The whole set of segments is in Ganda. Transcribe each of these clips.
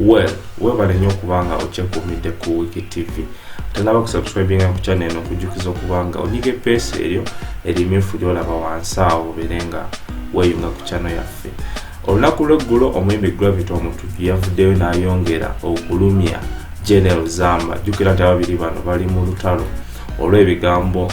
well webale nnyo okubanga okyekuumidde ku wiki tv tanaba kusubscribinga ku channel eno nkujjukiza okubanga onyiga epeesa eryo erimyufu lyolaba wansi awo obeere nga weyunga ku channel yaffe olunaku lweggulo omuyimbi gravity omuntu yavuddeyo n'ayongera okulumya general zamba jjukira nti ababiri bano bali mu lutalo olw'ebigambo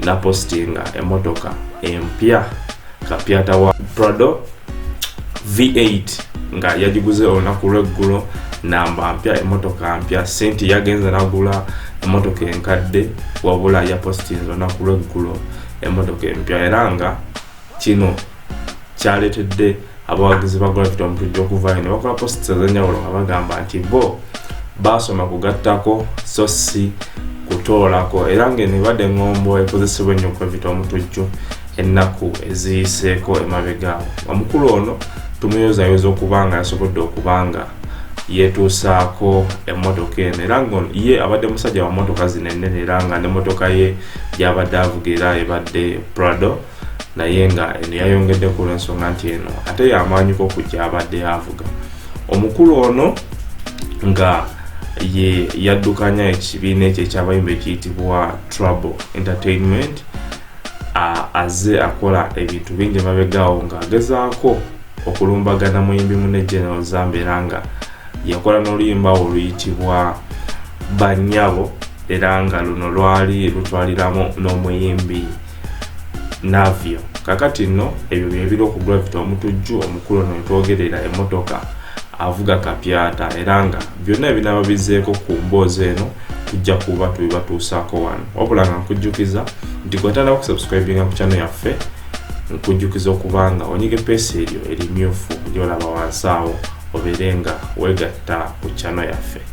napostinga emotoka empya kapyata wa prado v8 nga yagiguze olunaku lweggulo namba mpya emotoka mpya senti yagenze nagula emotoka enkadde wabula yapostinze olunaku lweggulo emotoka empya era nga kino kyaletedde abawagizi ba gravity omutujja okuvaayo ne bakola posits ezenjawulo nga bagamba nti bo baasoma kugattako so si kutoolako era ng'eno ebadde eŋŋombo ekozesebwa ennyo gravity omutujju ennaku eziyiseeko emabegaawo omukulu ono tumuyozayoza okuba nga yasobodde okuba nga yetuusaako emmotoka eno era nga ye abadde musajja wa mmotoka zino ennene era nga ne mmotoka ye gyabadde avuga era ebadde prado naye nga eno yayongedde ku lwensonga nti eno ate yamaanyiko okujja abadde avuga omukulu ono nga ye yaddukanya ekibiina ekyo ekyabayimba ekiyitibwa trouble entertainment azze akola ebintu bingi mabegaawo ng'agezaako okulumbagana muyimbi mune general zamba era nga yakola n'oluyimba oluyitibwa banyabo era nga luno lwali lutwaliramu n'omuyimbi no navio kakati nno ebyo byebiri okugravita omutujju omukulu no ntwogerera emotoka avuga kapyata era nga byonna ebinaba bizeeko ku mboozi eno tujja kuba tubibatuusaako wano wabula nga nkujjukiza nti gwetana okusubscribinga ku kyano yaffe nkujjukiza okuba nga onyige peesi eryo erimyufu lyolaba wansi awo obeere nga wegatta ku kyano yaffe